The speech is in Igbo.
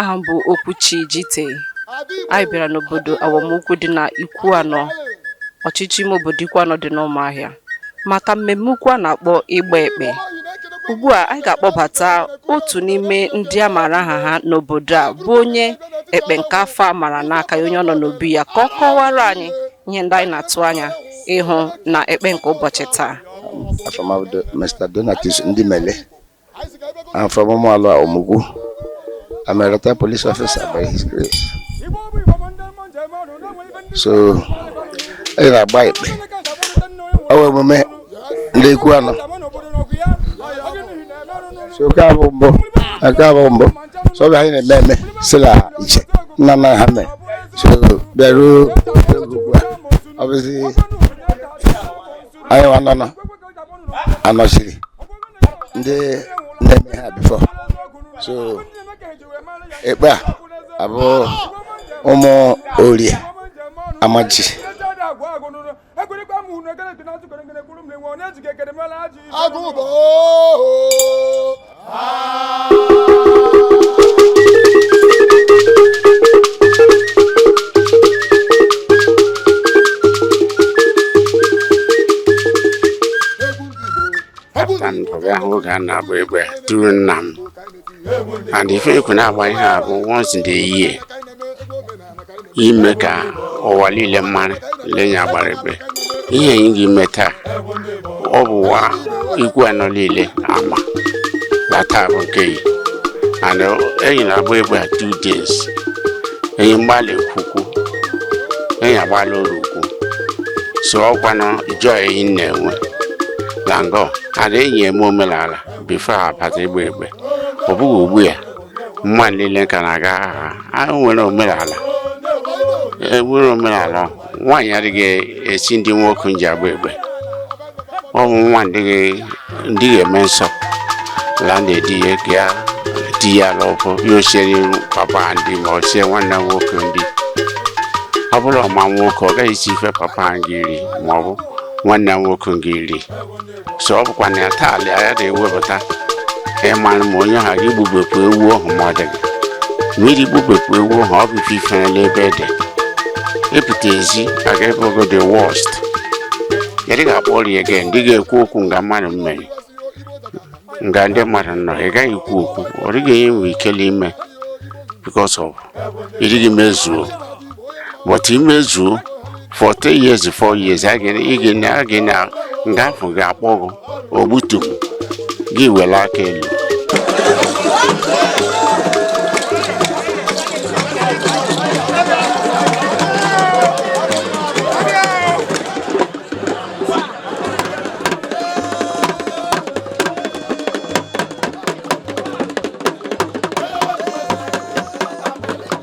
aha m bụ Okwuchi Jite anyị bịara n'obodo Awomukwu dị na Ikwuanọ ọchịchị ime obodo Ikwuanọ dị n'Ụmụahịa maka mmemme ukwu a na-akpọ ịgba ekpe ugbu a anyị ga-akpọbata otu n'ime ndị a maara aha ha n'obodo a bụ onye ekpe nke afọ a mara n'aka ya onye ọ nọ n'obi ya ka ọ kọwara anyị ihe ndị anyị na-atụ anya ịhụ na ekpe nke ụbọchị taa afa m bụ Mr Donatus Ndimele I'm from Ụmụalụ Awomukwu I'm a retired police officer by his grace so anyị na-agba ekpe ọ bụ emume ndị Ikwuanọ so nke a bụ mbụ nke a bụ mbụ so ọ bụ anyị na-eme eme sila iche nna nna ha mee so bịaruo ọ bụzi anyị nwanọ nọ anọchiri ndị na-eme ha before so ekpe a bụ ụmụ orie amaji agụ bụ oho papa m bịa hụ oge a na-agba ekpe tụrụ nna m and ife ekwe na-agba ihe a bụ once in a year ime ka ụwa niile mara la enyi agbara ekpe ihe anyị ga-eme taa ọ bụ ụwa Ikwuanọ niile ama na taa bụ nke enyi and enyi na-agba ekpe a two days enyi agba la Eke ukwu enyi agba la Orie ukwu so ọkwanụ joy enyi na-enwe na ngọ and enyi eme omenala before abata ịgba ekpe ọ bụghị ugbu ya mma niile ka na-aga agha a nwere omenala enwere omenala nwaanyị adịghị esi nri nwoke ji agba ekpe ọ bụ nwa na-adịghị eme nsọ la na-edi ya ka ya di ya lọbụ ya osiere papa nri ma ọ sie nwanne nwoke nri ọ bụrụ ọ ma nwoke ọ gaghị esi ife papa ga-eri ma ọ bụ nwanne nwoke ga-eri so ọ bụkwa na ya taa alị ya na-ewepụta ịmara ma onye ha ga-egbubepụ ewu ọhụ ma ọ dịghị emeri igbubepụ ewu ọhụ ọ bụ ife ifele ebe dị ịpụta ezi aga ebe ogo the worst ị dịghị akpọ ọrịa gị ị dịghị ekwu okwu nga mmadụ mmeri nga ndị mmadụ nọ ị gaghị ekwu okwu ọ dịghị enye nwe ikele ime because of ị dịghị mezuo but i mezuo for three years four years a ga- ị ga na- a ga na nga a hụ gị akpọ gị ogbutu gị ewere aka elu